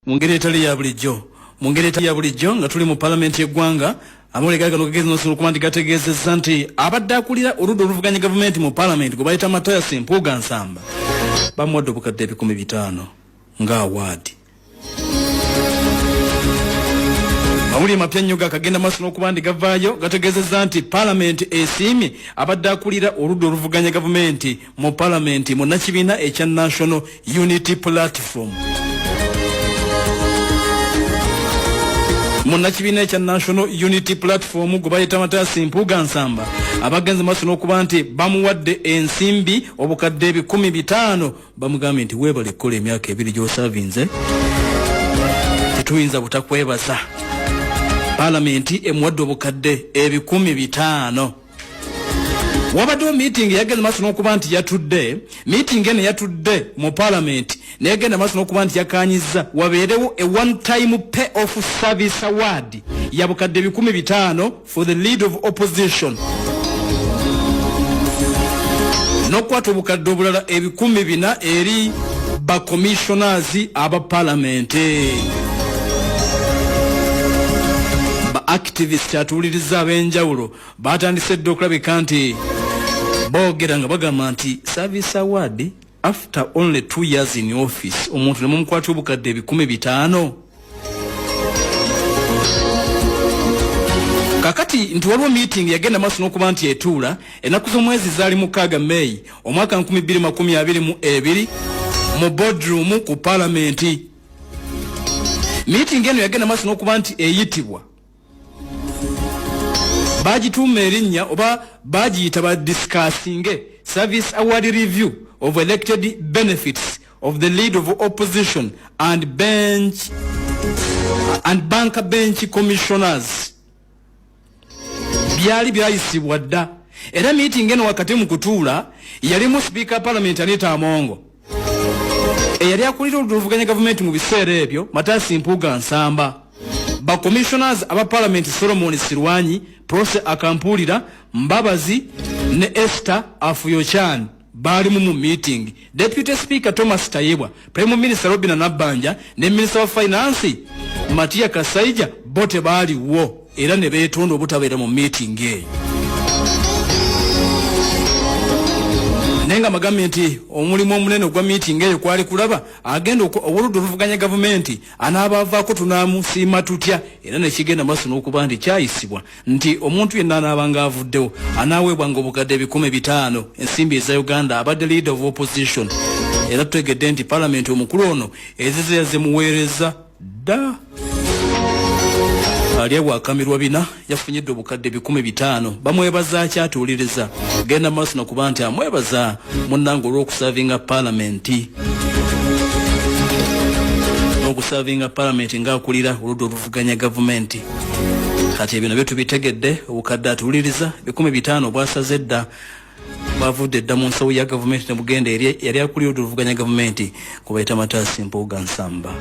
Mu ngeri etali ya bulijjo mu ngeri etali ya bulijjo nga tuli mu palamenti y'eggwanga amawulire gano gagezi nosolo okuba nti gategeezezza nti abadde akulira oludda oluvuganya gavumenti mu palamenti gwe bayita matayasi mpuuga nsamba bamuwadde obukadde ebikumi bitaano nga awaadi amawulire mapya nnyo gakagenda maaso n'okuba nti gavaayo gategeezezza nti palamenti esiimye abadde akulira oludda oluvuganya gavumenti mu palamenti munnakibiina ekya national unity platform munnakibiina ekya national unity platform gwe bayita mataasi mpuuga nsamba abagenze maaso n'okuba nti bamuwadde ensimbi obukadde ebikumi bitaano bamugambye nti weebale kukola emyaka ebiri gy'osavinze tetuyinza butakwebaza palamenti emuwadde obukadde ebikumi bitaano wabaddewo meeting yagenda maaso n'okuba nti yatudde meeting eno yatudde mu palamenti neyagenda maaso n'okuba nti yakanyiza wabeerewo a one time pay off service award yabukadde ebikumi bitaano for the lead of opposition n'okukwata obukadde obulala ebikumi bina eri bacommissioners aba palamenti ba activist atuwuliriza ab'enjawulo baatandise dda okulabika nti boogera nga bagamba nti service award after only two years in office omuntu ne mumukwata obukadde ebikumi bitaano kakati nti waliwo meeting yagenda maaso n'okuba nti etuula ennaku z'omwezi zaali mukaaga may omwaka 2022 mu bodroom ku palamenti meeting eno yagenda maaso n'okuba nti eyitibwa bagituuma erinnya oba bagiyita ba discussinge service award review of elected benefits of the lead of opposition and bench and bank bench commissioners byali byayisibwa dda era meeting eno wakati mu kutuula yalimu speaker parliament anita amongo eyali akulira oludda oluvuganya gavumenti mu biseera ebyo matasi mpuuga nsamba bacommissioners aba palamenti solomoni sirwanyi prose akampuulira mbabazi ne ester afuyochan baalimu mu meeting deputy speaker thomas tayebwa prime minister robina nabbanja ne minister wa finance matiya kasaija bo tebaaliwo era ne beetonda obutabeera mu miitingi eyo naye nga magambye nti omulimu omunene ogwa miitingi eyo kwali kulaba agenda owoludda oluvuganya gavumenti anaabaavaako tunaamusiima tutya era nekigenda maaso n'okuba nti kyayisibwa nti omuntu yenna anaabanga avuddewo anaaweebwanga obukadde ebikumi bitaano ensimbi eza uganda abadde leader of opposition era tutegedde nti palamenti omukulu ono ezize yazimuweereza dda ali awakamirwa bina yafunyidde obukadde bikumi bitaano bamwebaza akyatuuliriza genda maaso nakuba nti amwebaza munnanga olw'okusavinga palamenti n'okusavinga palamenti ng'akulira oludda oluvuganya gavumenti kati ebyo nabyo tubitegedde obukadde atuuliriza bikumi bitaano bwasaze dda bavudde dda mu nsawo ya gavumenti ne bugenda eri yali akulira otuluvuganya gavumenti kubayita mataasi mpuuga nsamba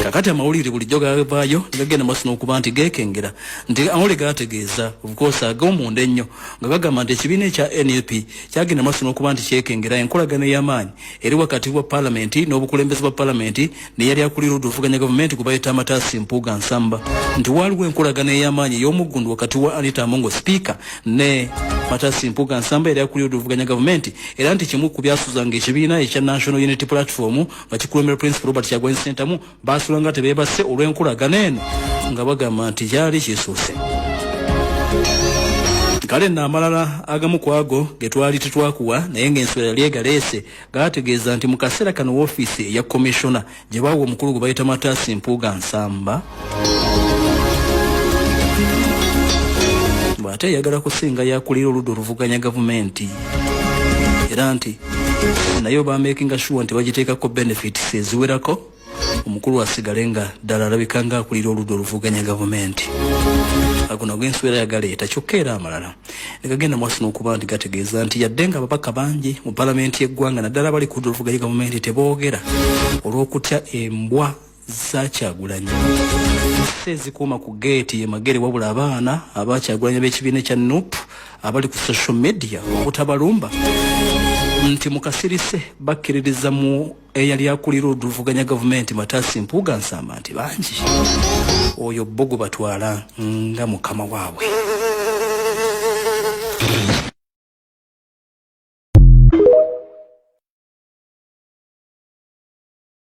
kakati amawulire bulijjo gavaayo negagenda maaso n'okuba nti gekengera nti amawulire gategeeza obukoosa ag'omunda ennyo nga gagamba nti ekibiina ekya nup kyagenda maaso n'okuba nti kyekengera enkolagana ey'amaanyi eri wakati wa palamenti n'obukulembeze bwa palamenti neyali akulira oduvuganya gavumenti gwebayita amatasi mpuuga nsamba nti waaliwo enkolagana ey'amaanyi ey'omuggundu wakati wa anita amongo sipiika ne matasi mpuuga nsamba yali akulira oduvuganya gavumenti era nti kimu ku byasuzanga ekibiina ekya national unity platform nga kikulembera principal robert kyagwanyi sentamu baasula nga tebeebase olw'enkolagana eno nga bagamba nti gyali kisuuse kale nno amalala agamu ku ago ge twali tetwakuwa naye ng'ensula yali egaleese gaategeeza nti mu kaseera kano woofiisi eya komishona gye baawa omukulu gwe bayita mataasi mpuuga nsamba bw'ate eyagala kusinga yakulira oludda oluvuganya gavumenti era nti naye obaamekinga shuwa nti bagiteekako benefits eziwerako omukulu asigale nga ddala alabika nga akulira oludda oluvuganya gavumenti aguno ag'enswera yagaleeta kyokka era amalala negagenda mwasi n'okuba nti gategeeza nti yadde nga ababaka bangi mu palamenti y'eggwanga naddala abali ku ludda oluvuganya gavumenti teboogera olw'okutya embwa zakyagulanyi se ezikuuma ku geeti yemagere wabula abaana abakyagulanyi b'ekibiina ekya nup abali ku social media obutabalumba nti mukasirise bakkiririza mu eyali akulira oluvuganya gavumenti matasi mpuuga nsamba nti bangi oyo bo gwe batwala nga mukama waabwe